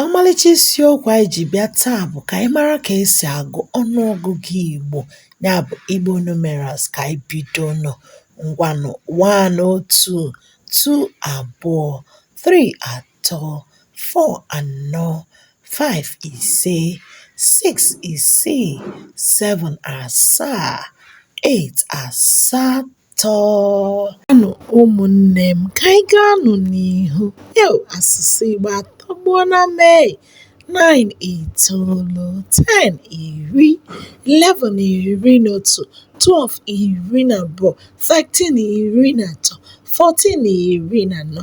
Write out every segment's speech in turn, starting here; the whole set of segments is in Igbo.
ọmalịcha isiokwu anyị ji bịa taa bụ ka anyị mara ka esi agụ ọnụọgụgụ Igbo ya bụ Igbo numerals ka anyị bidonụ ngwanụ one otu two abụọ three atọ tọọ, four anọ, five ise, six isii, seven asaa, eight asatọ. Ngwanụ ụmụnne m ka anyị gaanụ n'ihu eu asụsụ Igbo atọgbuona m ee nine itoolu ten iri eleven iri na otu twelve iri na abụọ thirteen iri na atọ fourteen iri na anọ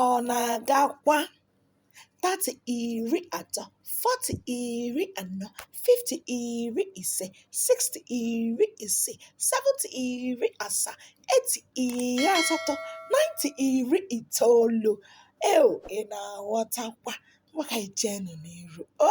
Ọ na-agakwa. Thirty iri atọ, forty iri anọ, fifty iri ise, sixty iri isii, seventy iri asaa, eighty iri asatọ, ninety iri itoolu. Eo ị na-aghọtakwa? Ngwa ka anyị jeenụ n'iru. O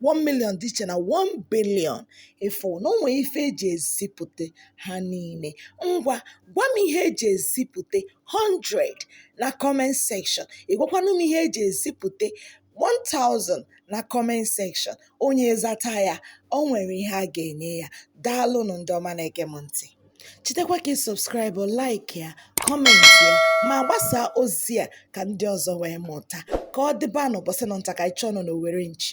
1 million dị iche na 1 billion ị fụ na o nwere ife eji ezipụta ha niile ngwa gwa m ihe eji ezipụta 100 na comment section ị gwakwanụ m ihe eji ezipụta 1000 na comment section onye zata ya o nwere ihe a ga-enye ya daalụnụ ndị ọma na-ege m ntị Chetakwa ka ị subscribe, like ya, comment ya ma gbasaa ozi a ka ndị ọzọ wee mụta ka ọ dịbanụ ụbọchị nụ nta ka anyị chụọnụ n'owere nchi.